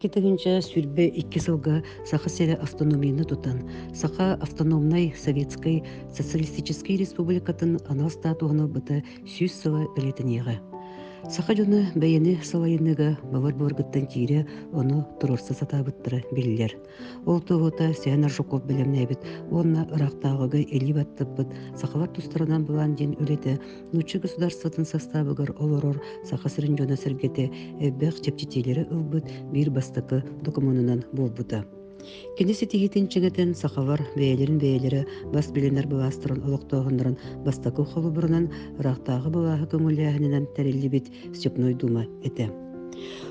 Китигинче сүрбе икки сылга Саха сирэ автономияны тутан, Саха автономнай Советскай Социалистическай Республикатын анал статуһуну быта сүүс сыла бэлэтиниэҕэ. Саха дьону бэйэни салайыныга бавар буоргыттан тиирэ ону туруорса сатаабыттара биллер. Ол туһута Сиан Аржуков бэлэмнээбит уонна ыраахтааҕыга илии баттыппыт сахалар тустарынан былаан диэн үлэтэ нуучча государствотын састаабыгар олорор Саха сирин дьоно-сэргэтэ элбэх чэпчэтиилэри ылбыт биир бастакы докумуонунан буолбута. Кини ситиһиитин чиҥэтэн сахалар бэйэлэрин бэйэлэрэ бас билинэр былаастарын олохтооһуннарын бастакы холобурунан ыраахтааҕы былааһы көҥүллээһининэн тэриллибит Степной Дума этэ.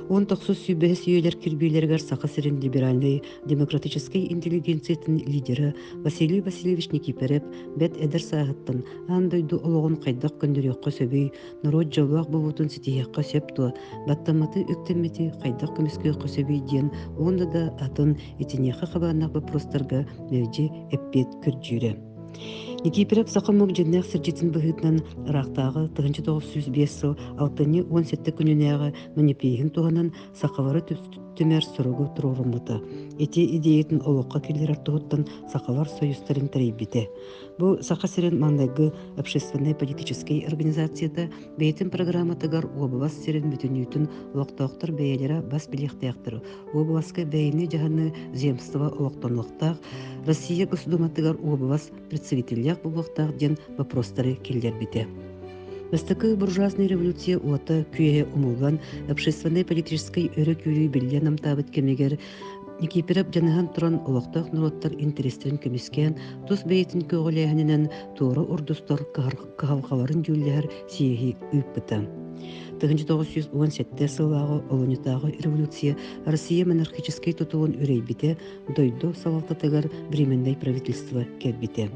Он тохсус сүүбэһис үйэлэр кирбиилэригэр Саха сирин либеральной демократической интеллигенциятын лидеры Василий Васильевич Никипереп бэт эдэр сааһыттан аан дойду олоҕун хайдах көндөрүөххэ сөбүй, норуот дьоллоох буолуутун ситиһиэххэ сөп туо, баттамматы үктэммити хайдах көмүскүөххэ сөбүй диэн онда да атын итиниэхэ хабааннах бопрустарга мэлдьи эппиэт көрдүүрэ. Никифоров саха омук дьиннээх сырдьытын быһыытынан ыраахтааҕы тыһыынча тоҕус сүүс биэс сыл алтынньы уон сэттэ күнүнээҕи манипииһин туһанан сахалары түмэр суругу туруоруммута. Ити идеятын олоххо киллэрэр туһуттан сахалар союзтарын тэрийбитэ. Бу Саха сирин маҥнайгы общественнай-политическай организацията Бэйэтин программатыгар уобалас сирин бүтүнүүтүн олохтоохтор бэйэлэрэ бас билиэхтээхтэр. Уобаласка бэйэни дьаһаны земство олохтонуохтаах, Россия Госдуматыгар уобалас представителяах буолуохтаах диэн вопростары киллэрбитэ. Бастакы буржуазный революция уота күйе умулган общественной политической өрөкүлүү биллен амтабыт кемигер Никиперов жаныһан туран олохтоох норуоттар интерестерин көмүскээн тус бэйэтин көҕүлээһининэн туора ордустор кыһалҕаларын дьүүллэһэр сиэһи ыыппыта. 1917 сыллааҕы олунньутааҕы революция Россия монархическай тутулун үрэйбитэ, дойду салалтатыгар временнай правительство кэлбитэ.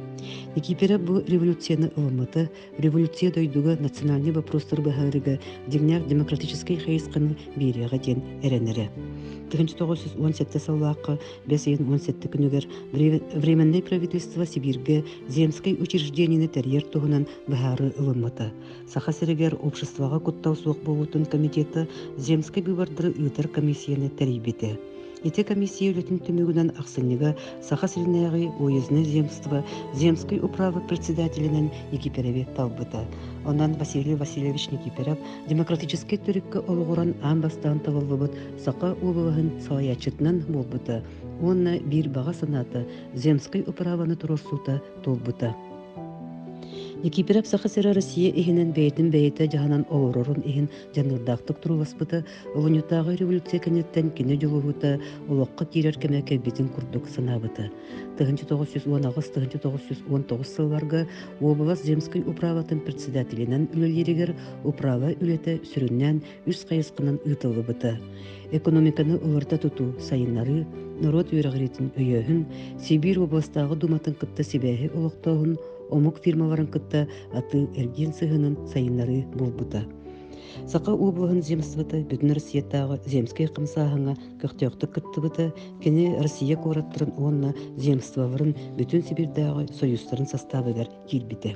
Никипера бу революцияны ылыммыта, революция дойдуга национальный вопростар баһаарыга деңнээх демократическай хайысханы биэриэҕэ диэн эрэнэрэ. 1917 сыллаахха Бес ыйын уон сэттэ күнүгэр Временное правительство Сибиргэ земскэй учреждениены тэрийэр туһунан быһаары ылыммыта. Саха сиригэр обществоҕа куттал суох буолуутун комитеты земскэй быыбардары ыытар комиссияны тэрийбитэ. Ити комиссия үлэтин түмүгүнэн ахсынньыга Саха сиринээҕи уездное земство земскай управа председателинэн Никипереви талбыта. Онон Василий Васильевич Никиперев демократическай төрүккэ олоҕуран аан бастаан талыллыбыт Саха улууһун салайааччытынан буолбута уонна биир баҕа санаата земскай управаны туруорсуута туолбута. Никиперев Саха сирэ Россия иһинэн бэйэтин бэйэтэ дьаһанан олорорун иһин дьаныардаахтык турууласпыта Улуньутааҕы революция кэнниттэн кини дьулуһуута олоххо киирэр кэмэ кэлбитин курдук санаабыта. 1909-1919 сылларга область земской управатын председателинэн үлэлииригэр управа үлэтэ сүрүннээн үс хайысханан ыытыллыбыта экономиканы олорто тутуу сайыннарыы норуот үөрэҕириитин өйөөһүн сибиир областааҕы дууматын кытта сибээһи олохтооһун омук фирмаларын кытта атыы эргиэн сыһыанын сайыннарыы буолбута саха облаһын земствота бүтүн россиятааҕы земскэй хамсааһыҥа көхтөөхтүк кыттыбыта кини россия куораттарын уонна земстволарын бүтүн сибирдээҕи союзтарын састаабыгар киирбитэ.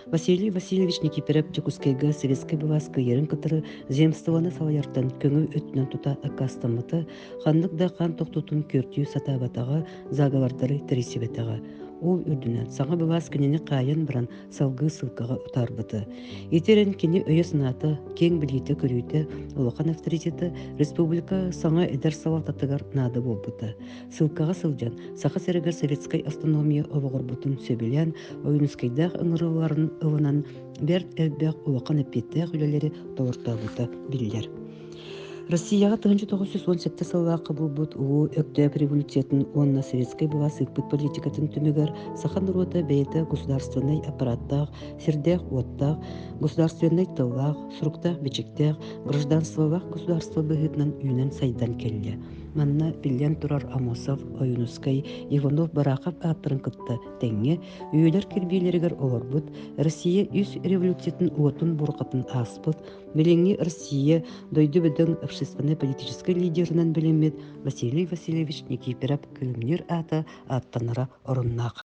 Василий Васильевич Никифоров Дьокуускайга Советскай былаас кыйарын кытары земствоны салайартан көҥүл өттүнэн тута аккаастаммыта, ханнык да хан тохтутун көртүү сатаабатаҕа, заговордары тэрийсибэтэҕэ. Ол үрдүнэн саҥа былаас кинини хаайан баран салгыы ссылкаҕа утаарбыта. Итирэн кини өйө-санаата, киэҥ билиитэ-көрүүтэ, улахан авторитета республика саҥа эдэр салалтатыгар наада буолбута. Ссылкаҕа сылдьан Саха сиригэр советскай автономия олоҕурбутун сөбүлээн ойуунускайдаах ыҥырыларын ылынан бэрт элбэх улахан эппиэттээх үлэлэри толортообута биллэр. Россияҕа 1968 сыллаах кабылбыт Улуу Өктөөп революциятын уонна советскай былаас ыыппыт политикатын түмүгэр саха норуота бэйэтэ государственнай аппараттаах, сирдээх-уоттаах, государственнай тыллаах, суруктаах-бичиктээх, гражданстволаах государство быһыытынан үүнэн сайдан кэллэ. Манна, биллэн турар, Амосов, Ойуунускай, Иванов Барахов ааттарын кытта тэҥҥэ үйэлэр кирбиилэригэр олорбут, Россия үс революциятын уотун бурҕатын ааспыт, билиҥҥи Россия дойду бөдөҥ общественно-политическай лидерынан билиммит Василий Васильевич Никифоров Кылымниир аата ааттанара оруннаах.